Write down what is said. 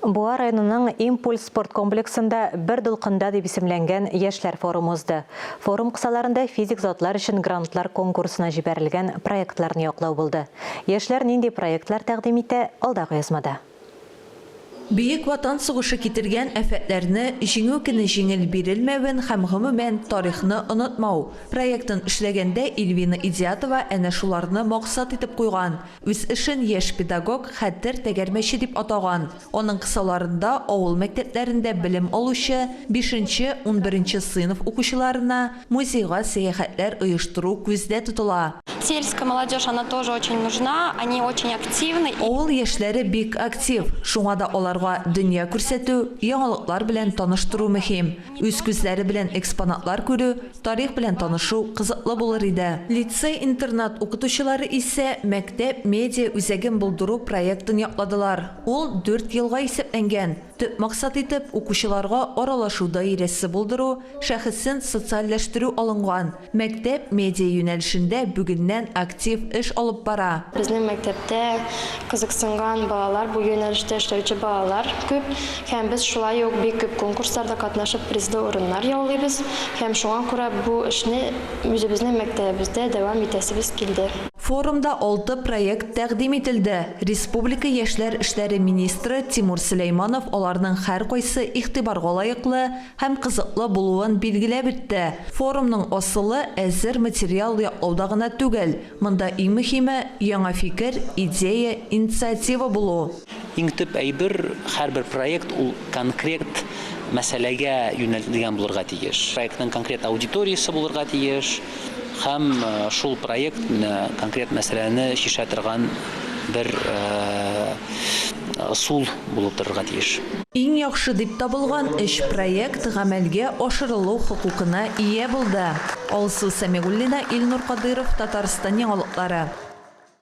Буа районының Импульс спорт комплексында Бер дулкында дип исемләнгән яшьләр форумы узды. Форум кысаларында физик затлар өчен грантлар конкурсына җибәрелгән проектларны яклау булды. Яшьләр нинди проектлар тәкъдим итә, алдагы язмада. Бөек Ватан сугышы китергән афәтләрне җиңү көне җиңел бирелмәвен һәм, гомумән, тарихны онытмау проектын эшләгәндә Ильвина Идиатова әнә шуларны максат итеп куйган. Үз эшен яшь педагог Хәтер тәгәрмәче дип атаган. Аның кысаларында авыл мәктәпләрендә белем алучы бишенче, унберенче сыйныф укучыларына музейга сәяхәтләр оештыру күздә тотыла. Сельская молодежь, она тоже очень нужна, они очень активны и. Авыл яшьләре бик актив, шуңа да аларга дөнья күрсәтү, яңалыклар белән таныштыру мөһим. Үз күзләре белән экспонатлар күрү, Тарих белән танышу кызыклы булыр иде. Лицей-интернат укытучылары исә Мәктәп медиа үзәген булдыру проектын якладылар. Ул дүрт елга исәпләнгән. Төп максат итеп укучыларга аралашу даирәсе булдыру, шәхесен социальләштерү алынган. Мәктәп медиа юнәлешендә бүгеннән актив эш алып бара. Безнең мәктәптә кызыксынган балалар, бу юнәлештә эшләүче балалар күп. Һәм без шулай ук бик күп конкурсларда катнашып призлы урыннар яулыйбыз, һәм шуңа күрә бу эшне үзебезнең мәктәбебездә дәвам итәсебез килде. Форумда алты проект тәкъдим ителде, республика яшьләр эшләре министры Тимур Сөләйманов аларның һәркайсы игътибарга лаеклы һәм кызыклы булуын билгеләп үтте, форумның асылы әзер материал яклауда гына түгел, монда иң мөһиме, яңа фикер, идея, инициатива булу. Иң төп әйбер, һәрбер проект ул конкрет мәсьәләгә юнәлтелгән булырга тиеш. Проектның конкрет аудиториясе булырга тиеш һәм шул проект менә конкрет мәсьәләне чишә торган бер ысул булып торырга тиеш. Иң яхшы дип табылган өч проект гамәлгә ашырылу хокукына ия булды. Алсу Сәмигуллина, Илнур Кадыйров, Татарстан яңалыклары.